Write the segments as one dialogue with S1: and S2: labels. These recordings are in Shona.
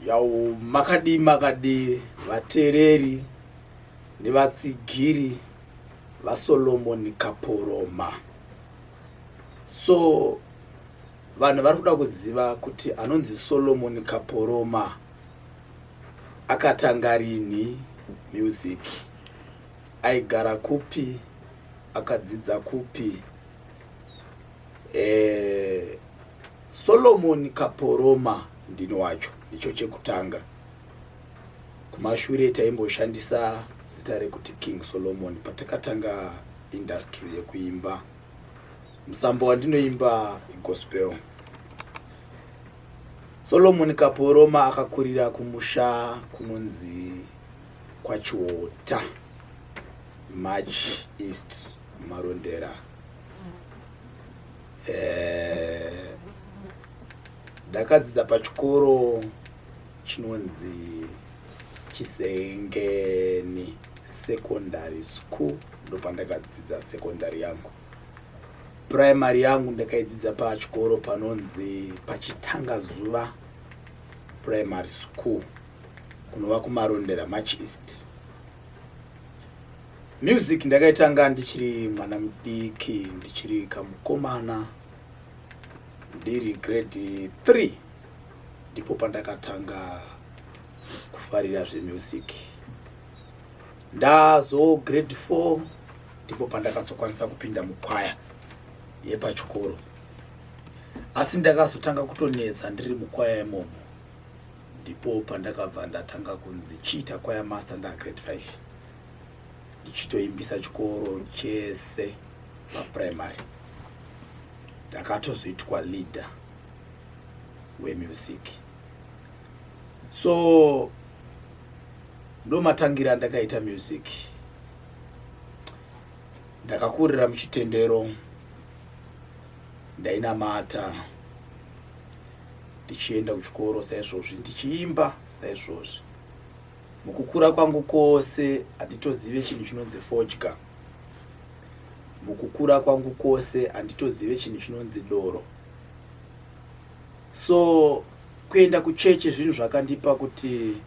S1: yawo makadii makadii vateereri nevatsigiri vasolomoni kaporoma so vanhu vari kuda kuziva kuti anonzi solomoni kaporoma akatanga rini music aigara kupi akadzidza kupi eh, Solomon Kaporoma ndini wacho ndicho chekutanga. Kumashure taimboshandisa zita rekuti King Solomon patakatanga industry yekuimba. Musambo wandinoimba igospel. Solomon Kaporoma akakurira kumusha kunonzi kwaChiota, March East, Marondera. eh, ndakadzidza pachikoro chinonzi chisengeni secondary school ndopandakadzidza secondary yangu primary yangu ndakaidzidza pachikoro panonzi pachitanga zuva primary school kunova kumarondera march east Music ndakaitanga ndichiri mwana mudiki ndichiri kamukomana ndiri grade 3 ndipo pandakatanga kufarira zvemusic ndazo grade 4 ndipo pandakazokwanisa kupinda mukwaya yepachikoro asi ndakazotanga kutonetsa ndiri mukwaya imomo ndipo pandakabva ndatanga kunzi chiita kwaya master ndagrade 5 ndichitoimbisa chikoro chese paprimary ndakatozoitwa leader wemusic so ndomatangira andakaita music ndakakurira muchitendero ndainamata ndichienda kuchikoro saizvozvi ndichiimba saizvozvi mukukura kwangu kwose handitozive chinhu chinonzi fodya mukukura kwangu kwose handitozive chinhu chinonzi doro so kuenda kuchechi zvinhu zvakandipa kuti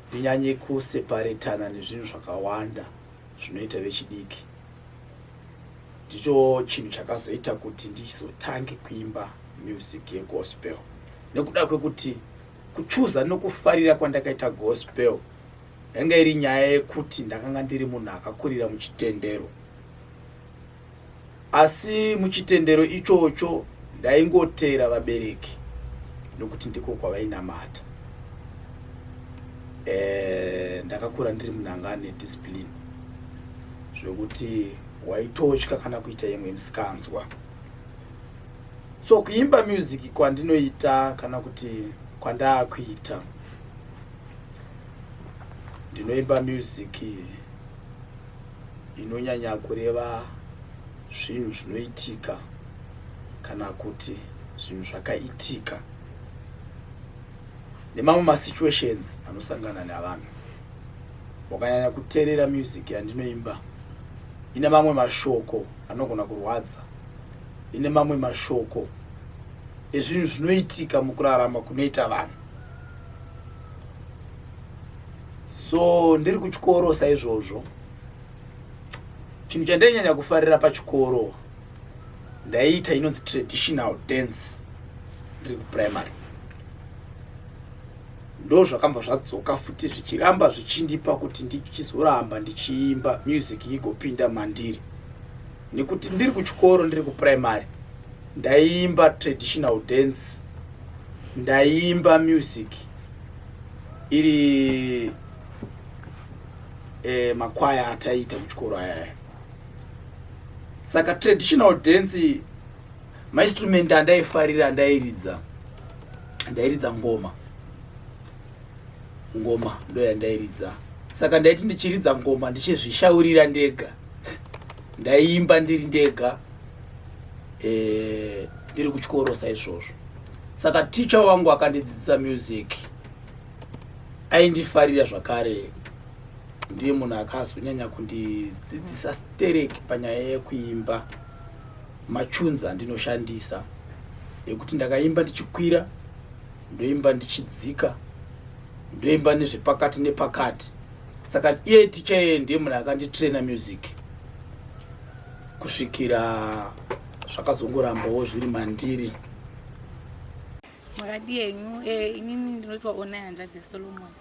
S1: ndinyanye kuseparetana nezvinhu zvakawanda zvinoita vechidiki ndicho chinhu chakazoita kuti ndizotange kuimba music yegospel nekuda kwekuti Kuchuza nokufarira kwandakaita gospel yanga iri nyaya yekuti ndakanga ndiri munhu akakurira muchitendero asi muchitendero ichocho ndaingoteera vabereki nokuti ndiko kwavainamata e, ndakakura ndiri munhu anga ane discipline zvekuti waitotya kana kuita imwe misikanzwa so kuimba music kwandinoita kana kuti kwandaakuita ndinoimba music inonyanya kureva zvinhu zvinoitika kana kuti zvinhu zvakaitika nemamwe masituations anosangana nevanhu wakanyanya kuteerera music yandinoimba ine mamwe mashoko anogona kurwadza ine mamwe mashoko ezvinhu zvinoitika mukurarama kunoita vanhu so ndiri kuchikoro saizvozvo chinhu chandainyanya kufarira pachikoro ndaiita inonzi traditional dance ndiri kuprimary ndo zvakamba zvadzoka futi zvichiramba zvichindipa kuti ndichizoramba ndichiimba music igopinda mandiri nekuti ndiri kuchikoro ndiri kuprimary ndaiimba traditional dance ndaiimba music iri eh, makwaya ataiita kuchikoro ayaya saka traditional dance mainstrument andaifarira ndairidza ndairidza ngoma ngoma ndoyandairidza saka ndaiti ndichiridza ngoma ndichizvishaurira ndega ndaiimba ndiri ndega eh, ndiri kuchikoro saizvozvo saka ticha wangu akandidzidzisa music aindifarira zvakare ndiye munhu akazonyanya kundidzidzisa stereki panyaya yekuimba machunza ndinoshandisa yekuti ndakaimba ndichikwira ndoimba ndichidzika ndoimba nezvepakati nepakati saka iye ticha yeye ndiye munhu akanditraina music kusvikira zvakazongorambawo zviri mandiri makadi yenyu eh, inini ndinotiwa onai hanzvadzi yasolomoni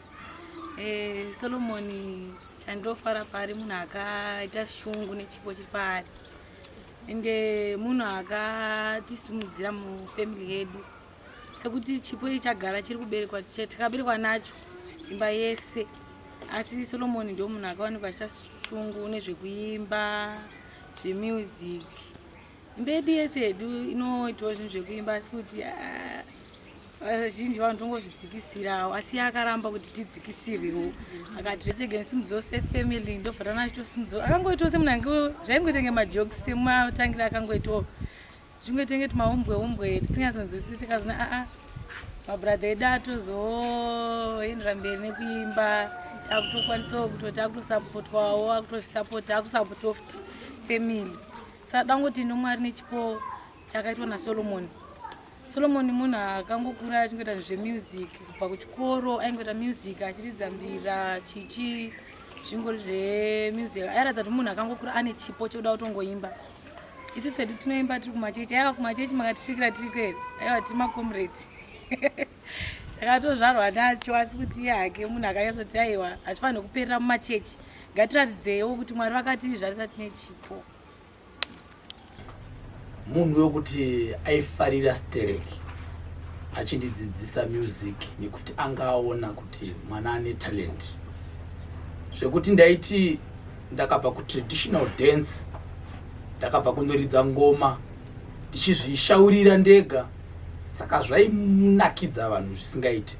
S1: eh, solomoni chandinofara paari munhu akaita shungu nechipo chiri paari ende munhu akatisimudzira mufamily yedu sekuti chipo ichi chagara chiri kuberekwa tikaberekwa nacho imba yese asi solomoni ndo munhu akawanikwa achita shungu nezvekuimba zvemusic imba yedu yese yedu inoitawo zvinhu zvekuimba asi kuti ah, vazhinji vanhu tongozvidzikisirawo asi akaramba kuti tidzikisirwewo akati zvese gensimudzo sefamily ndobvatana achitosimudzo akangoitawo semunhu ange zvaingoita nge majoks sematangira akangoitawo zvimwe tenge tumaumbwe umbwe tisingasanzwisisi tikazona aa ah, ah, mabhuradha edu atozoendera mberi nekuimba takutokwanisawo kuto taakutosapotwawo akutosapota akusapota oft family saka dangoti nomwari nechipo chakaitwa nasolomoni solomoni munhu akangokura achingoita zvemusic kubva kuchikoro aingoita music achiridza mbira chichi zvingori zvemusic airatidza kuti munhu akangokura ane chipo chekuda kutongoimba isusu hedu tinoimba tiri kumachechi aiwa kumachechi makatisvikira tiri kweri aiwa tiri macomrade takatozvarwa nacho asi kuti iye hake munhu akanyatsoti aiwa hazvifanire kuperera mumachechi ngatiratidzewo kuti mwari vakatizvarisa tine chipo munhu wekuti aifarira stereki achindidzidzisa music nekuti anga aona kuti mwana ane talent zvekuti ndaiti ndakabva kutraditional dance ndakabva kunoridza ngoma ndichizvishaurira ndega saka zvainakidza vanhu zvisingaite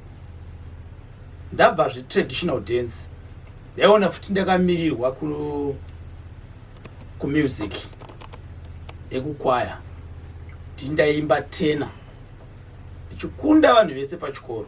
S1: ndabva zvetraditional dance ndaiona futi ndakamirirwa kumusic ekukwaya ndindaimba tena ndichikunda vanhu vese pachikoro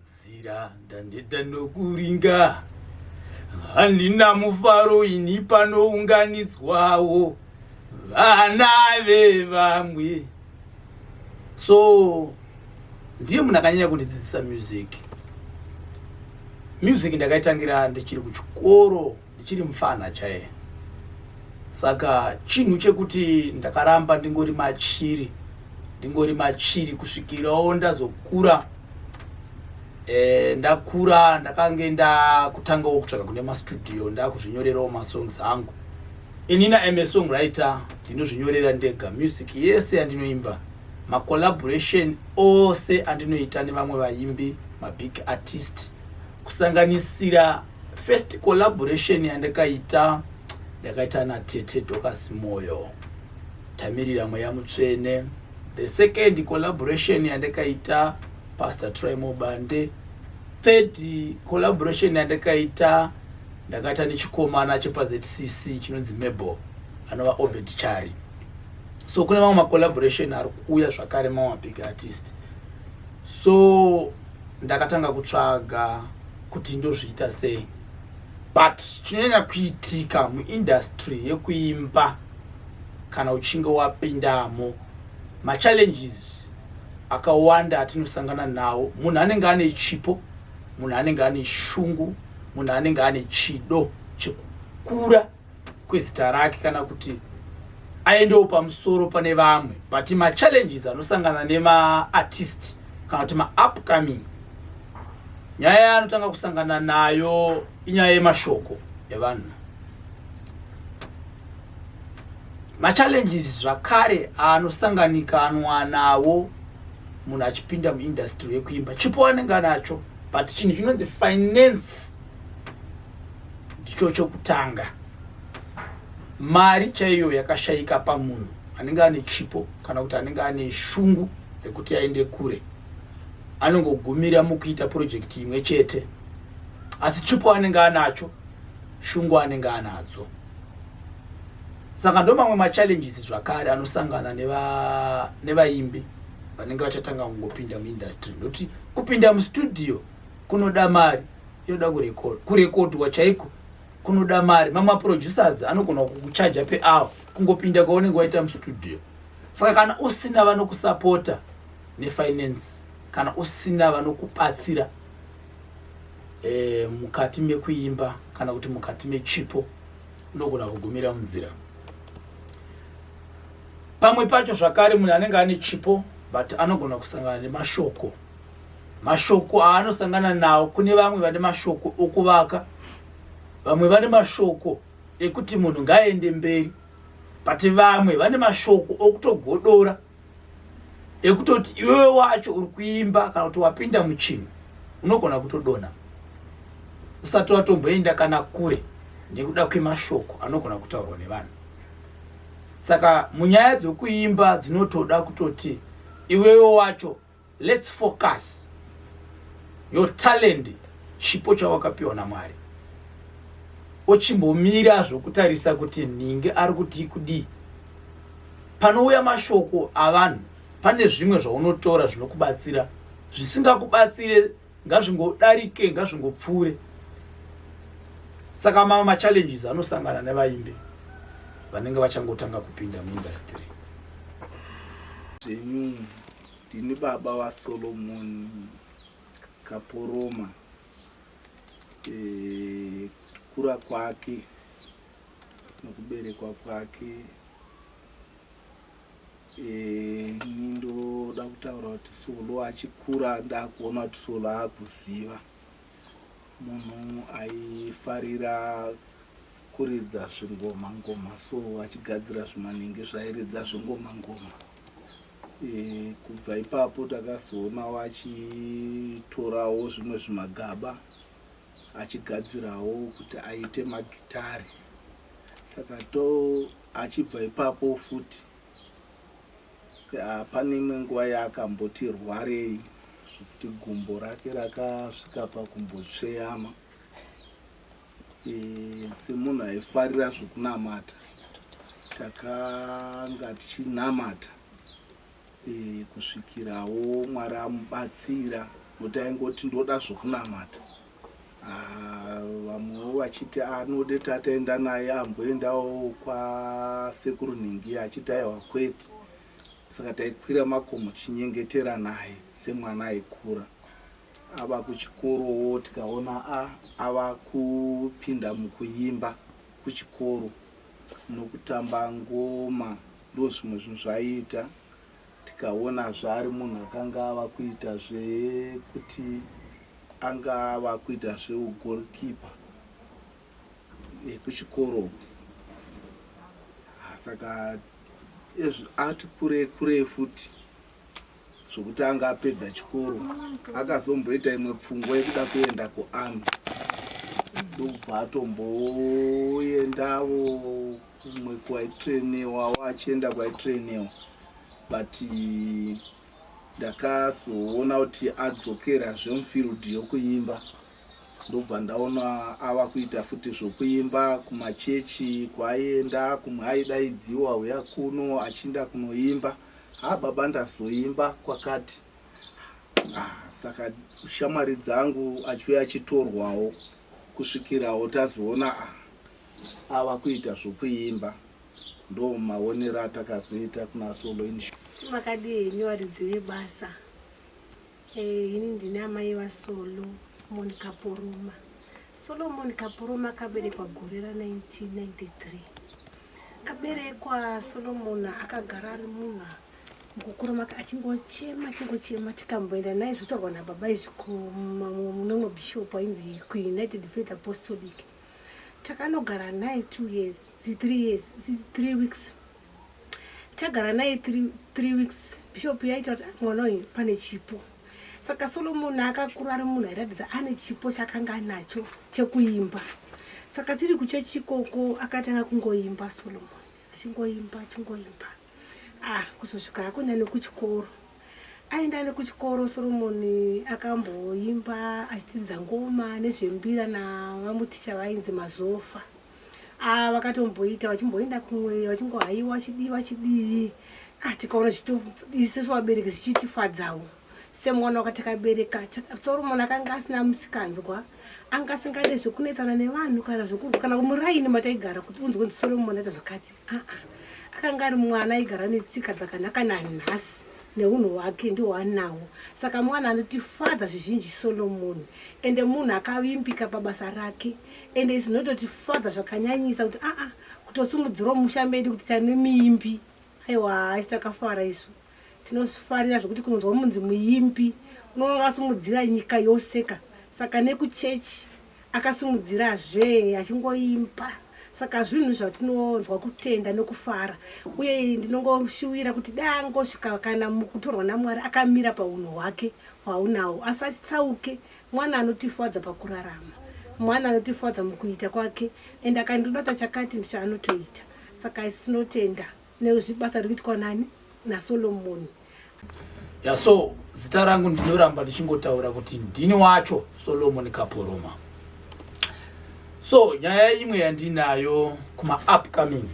S1: Nzira ndaneta nokuringa, handina mufaro ini panounganidzwawo vana vevamwe. So ndiye munhu akanyanya kundidzidzisa music. Music ndakaitangira ndichiri kuchikoro. ndichiri mufana chaiye saka chinhu chekuti ndakaramba ndingori machiri ndingori machiri kusvikirawo ndazokura e, ndakura ndakange ndakutangawo kutsvaga kune mastudio ndakuzvinyorerawo masongs angu inina am a song writer ndinozvinyorera ndega music yese andinoimba macollaboration ose andinoita nevamwe vaimbi mabig artist kusanganisira First collaboration yandakaita ndakaita natete Docas Moyo tamirira mweya mutsvene. The second collaboration yandakaita Pastor Troy Mobande. Third collaboration yandakaita ndakaita nechikomana chepaZCC chinonzi Mebo anova Obert Chari. So kune mamwe macollaboration ari kuuya zvakare mamwe big artist. So ndakatanga kutsvaga kuti ndozviita sei but chinonyanya kuitika muindustry yekuimba kana uchinge wapindamo machallenges akawanda atinosangana nawo munhu anenge ane chipo munhu anenge ane shungu munhu anenge ane chido chekukura kwezita rake kana kuti aendewo pamusoro pane vamwe but machallenges anosangana nemaartist kana kuti maupcoming nyaya yaanotanga kusangana nayo inyaya yemashoko evanhu machallenges zvakare anosanganikanwa nawo munhu achipinda muindastry yekuimba chipo anenge anacho but chinhu chinonzi finance ndicho chokutanga mari chaiyo yakashayika pamunhu anenge ane chipo kana kuti anenge ane shungu dzekuti aende kure anongogumira mukuita purojekiti imwe chete asi chipo anenge anacho shungu anenge anadzo saka ndo mamwe machallenges zvakare anosangana nevaimbi neva vanenge vachatanga kungopinda muindustry ndokuti kupinda mustudio kunoda mari inoda kurecord kurekodwa chaiko kunoda mari mamwe maproducers anogona kukuchaja peawa kungopinda kwaunenge waita mustudio saka kana usina vanokusapota nefinance kana usina vanokubatsira e, mukati mekuimba kana kuti mukati mechipo unogona kugumira munzira pamwe pacho zvakare munhu anenge ane chipo but anogona kusangana nemashoko mashoko aanosangana nawo kune vamwe vane mashoko okuvaka vamwe vane mashoko ekuti munhu ngaaende mberi but vamwe vane mashoko okutogodora ekutoti iwewe wacho uri kuimba kana kuti wapinda muchinhu unogona kutodona usati watomboenda kana kure nekuda kwemashoko anogona kutaurwa nevanhu saka munyaya dzokuimba dzinotoda kutoti iwewe wacho Let's focus your talent chipo chawakapiwa naMwari ochimbomira zvokutarisa kuti nhingi ari kuti kudii panouya mashoko avanhu pane zvimwe zvaunotora zvinokubatsira zvisingakubatsire ngazvingodarike ngazvingopfuure saka mama machallenges anosangana nevaimbi vanenge vachangotanga kupinda muindastry Ndini baba vaSolomon Kaporoma. Eh, kukura kwake nokuberekwa kwake eh, ini ndoda kutaura kuti Solo achikura ndakuona kuti Solo akuziva munhu aifarira kuridza zvingoma ngoma so achigadzira zvimanenge zvairidza zvingoma ngoma Kubva ipapo takazoonawo achitorawo zvimwe zvimagaba achigadzirawo kuti aite magitare saka to achibva ipapo futi ah, pane imwe nguva yaakamboti rwarei zvekuti gumbo rake rakasvika pakumbotsveyama Eh, semunhu aifarira zvekunamata takanga tichinamata eh, kusvikirawo mwari amubatsira nokuti aingoti ndoda zvekunamata ah, vamwewo vachiti anode ah, tataenda naye amboendawo kwasekuru nhingi achiti aiwa kwete saka taikwira makomo tichinyengetera naye semwana aikura Ava kuchikorowo tikaona a ava kupinda mukuimba kuchikoro nokutamba ngoma ndozvimwe zvinhu zvaiita tikaona zvaari munhu akanga ava kuita zvekuti anga ava kuita zveugolkipa ekuchikoro saka ati kure kure futi zvokuti anga apedza chikoro akazomboita imwe pfungwa yekuda kuenda kuarmy ndobva atomboendavo kumwe kwaitrainewa waachienda kwaitrainewa but ndakazoona kuti adzokera zvemufield yokuimba ndobva ndaona ava kuita futi zvokuimba kumachechi kwaienda kumwe aidaidziwa huya kuno achiinda kunoimba no Haa baba ndazoimba kwakati ah, saka shamwari dzangu achiuya achitorwawo kusvikirawo tazoona ah, ava kuita zvokuimba ndo maonero atakazoita kuna solo insh. Makadii henyu varidzi vebasa Eh, ini ndine amai vasolo moni kaporoma solomoni kaporoma akaberekwa gore ra 1993 aberekwa solomoni akagara ari munhu mukukura make achingochema achingochema tikamboenda naye zvitaurwa nababa izvi kunono bishop ainzi kuunited faith apostolic takanogara naye two years three years three weeks Tagara naye three, three weeks bishop yaita kuti ah, mwana uyu pane chipo saka solomon akakura ari munhu airatidza ane chipo chakanga anacho chekuimba saka tiri kuchechi ikoko akatanga kungoimba solomon achingoimba achingoimba ah kuzosvika hako nani kuchikoro aenda ne kuchikoro solomon akamboimba achitiridza ngoma nezvembira navamuticha vainzi mazofa Ah, vakatomboita vachimboenda kumweya vachingohaiwa chidii vachidii ah, tikaona isu vabereki zvichitifadzawo semwana wakati akabereka soromoni akanga asina musikanzwa anga asingade zvekunetsana nevanhu kana zvekurwa kana muraini mataigara kuti unzwe nzi soromoni aita zvakati aa ah, ah. akanga ari mwana aigara netsika dzakanaka nanhasi neunhu hwake ndiwo anawo saka mwana anotifadza zvizhinji solomoni ende munhu akavimbika pabasa rake ende izvi zvinototifadza zvakanyanyisa kuti aa ah, ah, kutosimudzirwa mumusha medu kuti tane muimbi aiwa haisi takafara isu tinofarira zvekuti kunonzwa munzi muimbi unoona akasimudzira nyika yose ka saka nekuchechi akasimudzira zve achingoimba saka zvinhu zvatinonzwa kutenda nokufara uye ndinongoshuwira kuti dangosvika kana mukutorwa namwari akamira paunhu hwake hwaunawo asi achitsauke Mwana anotifadza pakurarama. Mwana anotifadza mukuita kwake and akandoda tachakati ndicho anotoita. Saka isu tinotenda nezvibasa riri kuitwa nani naSolomon. Ya so zita rangu ndinoramba ndichingotaura kuti ndini wacho Solomon Kaporoma. So nyaya imwe yandinayo kuma upcoming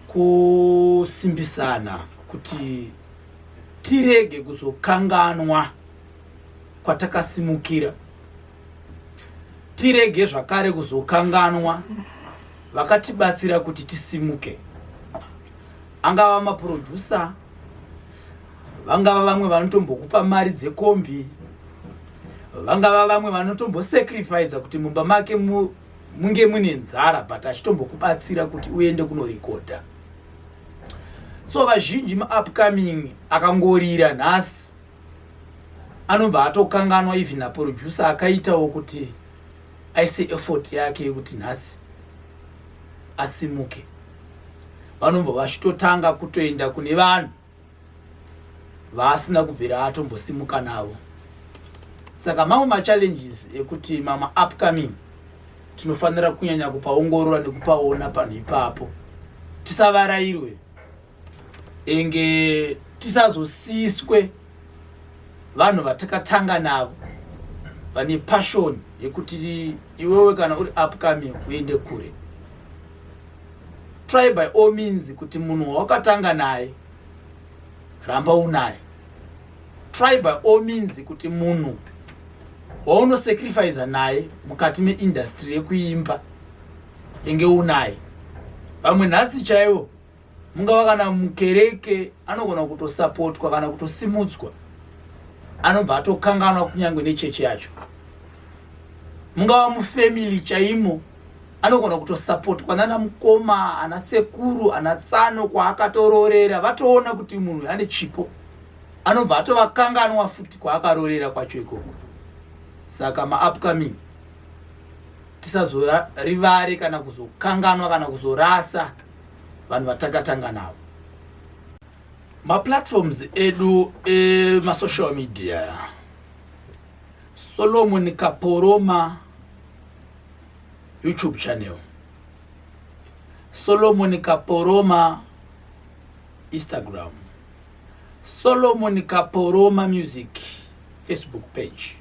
S1: kusimbisana kuti tirege kuzokanganwa kwatakasimukira tirege zvakare kuzokanganwa vakatibatsira kuti tisimuke angava maproducer vangava vamwe vanotombokupa mari dzekombi vangava vamwe vanotombosacrifica kuti mumba make mu, munge mune nzara but achitombokubatsira kuti uende kunorekodha so vazhinji maupcoming akangorira nhasi anobva atokanganwa even naproducer akaitawo kuti aise effort yake yekuti nhasi asimuke vanobva vachitotanga kutoenda kune vanhu vaasina kubvira atombosimuka navo saka mamwe machallenges ekuti mama upcoming tinofanira kunyanya kupaongorora nekupaona panhu ipapo tisavarairwe inge tisazosiswe vanhu vatakatanga navo vane passion yekuti iwewe kana uri upcoming uende kure try by all means kuti munhu wawakatanga naye ramba unaye try by all means kuti munhu waunosacrifice naye mukati meindastry yekuimba inge unaye vamwe nhasi chaivo mungava kana mukereke anogona kutosapotwa kana kutosimudzwa anobva atokanganwa kunyange nechechi yacho mungava mufamily chaimo anogona kutosapotwa nana mukoma ana sekuru ana tsano kwaakatororera vatoona kuti munhu ane chipo anobva atovakanganwa futi kwaakarorera kwacho ikoko saka maupcoming tisazorivare kana kuzokanganwa kana kuzorasa vanhu vatakatanga navo maplatforms edu emasocial media solomon kaporoma youtube channel solomon kaporoma instagram solomon kaporoma music facebook page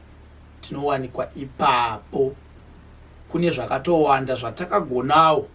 S1: tinowanikwa ipapo kune zvakatowanda zvatakagonawo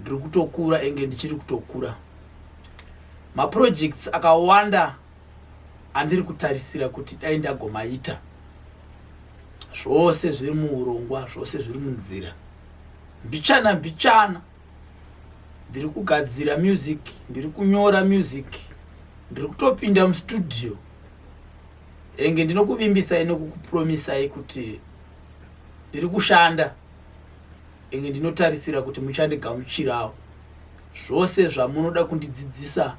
S1: ndiri kutokura enge ndichiri kutokura maprojects akawanda andiri kutarisira kuti dai ndagomaita zvose zviri muurongwa zvose zviri munzira mbichana mbichana ndiri kugadzira music ndiri kunyora music ndiri kutopinda mustudio enge ndinokuvimbisai nekukupromisai kuti ndiri kushanda inge ndinotarisira kuti muchandigamuchirawo zvose zvamunoda kundidzidzisa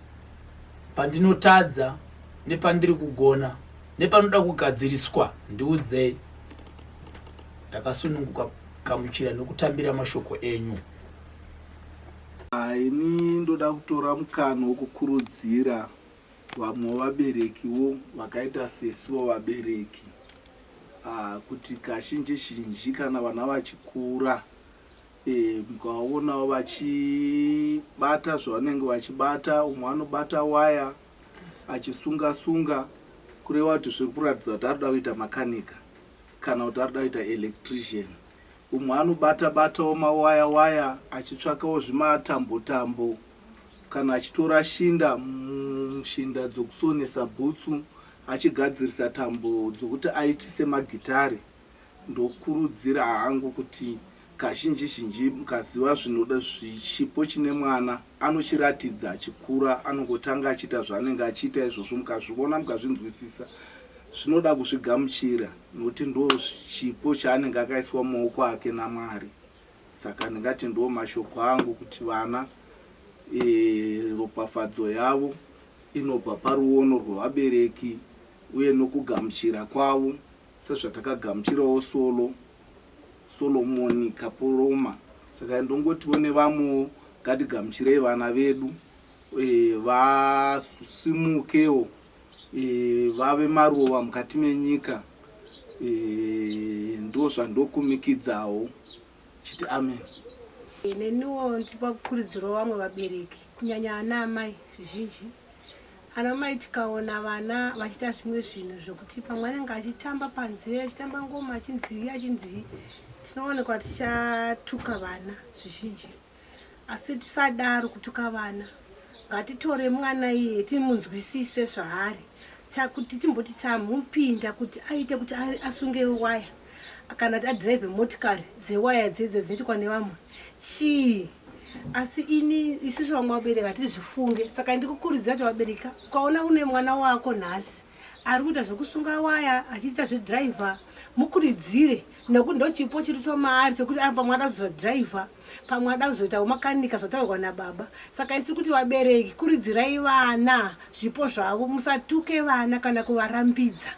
S1: pandinotadza nepandiri kugona nepanoda kugadziriswa ndiudzei ndakasununguka kugamuchira nokutambira mashoko enyu ini ndoda kutora mukana wokukurudzira vamwe vaberekiwo vakaita sesiwo vabereki Kuti kazhinji zhinji kana vana vachikura mukaonawo vachibata zvavanenge vachibata umwe anobata waya achisunga sunga kureva kuti zviri kuratidza kuti arikuda kuita makanika kana kuti arikuda kuita electrician umwe anobata batawo mawaya waya achitsvakawo zvimatambo tambo Kana achitora shinda mushinda dzokusonesa bhutsu achigadzirisa tambo dzokuti aitise magitare, ndokurudzira hangu kuti kazhinji zhinji mukaziva zvinoda chipo chine mwana anochiratidza achikura anongotanga achiita zvaanenge achiita izvozvo mukazvivona mukazvinzwisisa zvinoda kuzvigamuchira nokuti ndoo chipo chaanenge akaiswa mumaoko ake naMwari. Saka ndingati ndiwo mashoko angu kuti vana e, ropafadzo yavo inobva paruono rwevabereki uye nokugamuchira kwavo sezvatakagamuchirawo solo Solomoni Kapoloma. Saka ndongotiwo nevamwewo ngatigamuchirei vana vedu e, vasimukewo vave maruva mukati menyika ndozvandokumikidzawo chiti amen neniwo ndipa kukurudziro vamwe vabereki kunyanya ana amai zvizhinji ana mai tikaona vana vachiita zvimwe zvinhu zvekuti pamwe anenge achitamba panze achitamba ngoma achinzii achinzii tinoonekwa tichatuka vana zvizhinji Asi tisadaro kutuka vana. Ngatitore mwana iye timunzwisise zvaari. Chakuti timboti chamupinda kuti aite kuti asunge waya kana kuti adrive motikari dzewaya dzedze dzinoitwa nevamwe chii asi ini isusu vamwe vabereki hatizvifunge saka ndikukurudzira kuti vabereka ukaona une mwana wako nhasi ari kuita zvekusunga waya achiita zvedriver mukuridzire nekuti ndochipo chiri chomaari chekuti apa mwana azozadriver pamwe ada kuzoitawo makanika zvataurwa nababa saka isi kuti vabereki kuridzirai vana zvipo zvavo musatuke vana kana kuvarambidza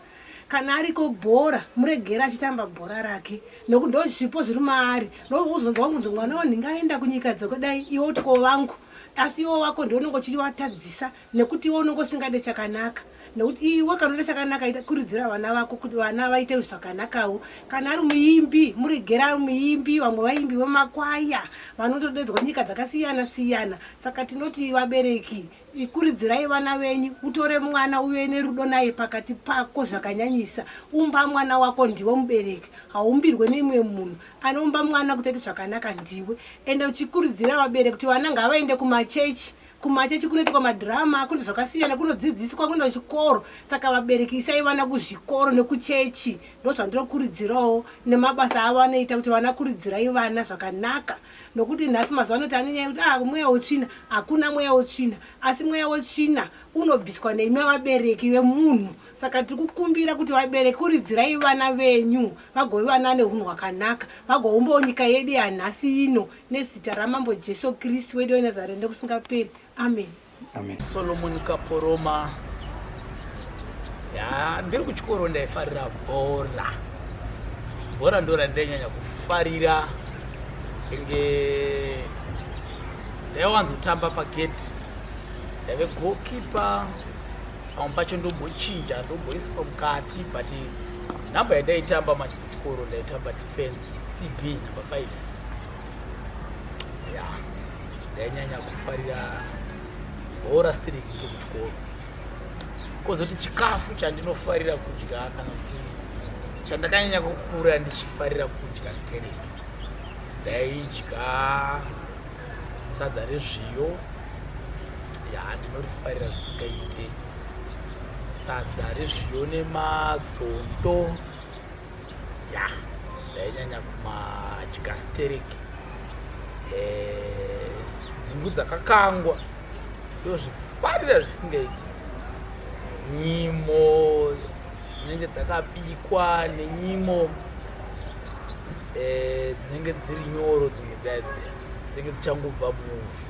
S1: kana ariko bhora muregera achitamba bhora rake nokuti ndo zvipo zviri maari nokuzonzwa kunzi mwana wanhu ngaenda kunyika dzekudai iwe uti ko vangu asi iwo wako ndiwo unonge uchivatadzisa nekuti iwe unonge usingade chakanaka nekuti iwe kana uda chakanaka ita kuridzira vana vako kuti vana vaite zvakanakawo kana ari muimbi muregera muimbi vamwe vaimbi vemakwaya vanotodedzwa nyika dzakasiyana siyana saka tinoti vabereki ikuridzirai vana venyu utore mwana uve nerudo naye pakati pako zvakanyanyisa umba mwana wako ndiwe mubereki haumbirwe neimwe munhu anoumba mwana kuti aite zvakanaka ndiwe ende uchikuridzira vabereki kuti vana ngavaende kumachechi Kumachechi kunoitwa madhirama, kune zvakasiyana, kunodzidziswa, kunoenda kuchikoro. Saka vabereki isai vana kuzvikoro nekuchechi, ndozvandinokurudzirawo nemabasa avo anoita kuti vana kuridzirai vana zvakanaka nokuti nhasi mazuva anoti ane nyaya yekuti ah mweya wetsvina hakuna mweya wetsvina asi mweya wetsvina unobviswa neimwe vabereki vemunhu saka tiri kukumbira kuti vabereki kuridzirai vana venyu vagove vana ane unhu hwakanaka vagowumbawo nyika yedu yanhasi ino Nezita ramambo Jesu Kristu wedu weNazareth ndokusingaperi. Amen. Amen. Solomon Kaporoma. Ya, ndiri kuchikoro ndaifarira bhora. Bhora ndora ndainyanya kufarira. Inge ndaiwanzotamba pagate. Ndaive goalkeeper. Pamwe pacho ndombochinja ndomboiswa mukati but number yandaitamba manje. chikoro ndaitamba defense cb number 5 ya ndainyanya kufarira bhora stiri kunge kuchikoro kozoti chikafu chandinofarira kudya kana kuti chandakanyanya kukura ndichifarira kudya stereki ndaidya sadza rezviyo ya ndinorifarira zvisingaite sadza rezviyo nemazondo ya ndainyanya kumadya sterek eh, dzungu dzakakangwa ndozvifarira zvisingaiti nyimo dzinenge dzakabikwa nenyimo eh, dzinenge dziri nyoro dzimwe dzaidzi dzinenge dzichangobva muvhu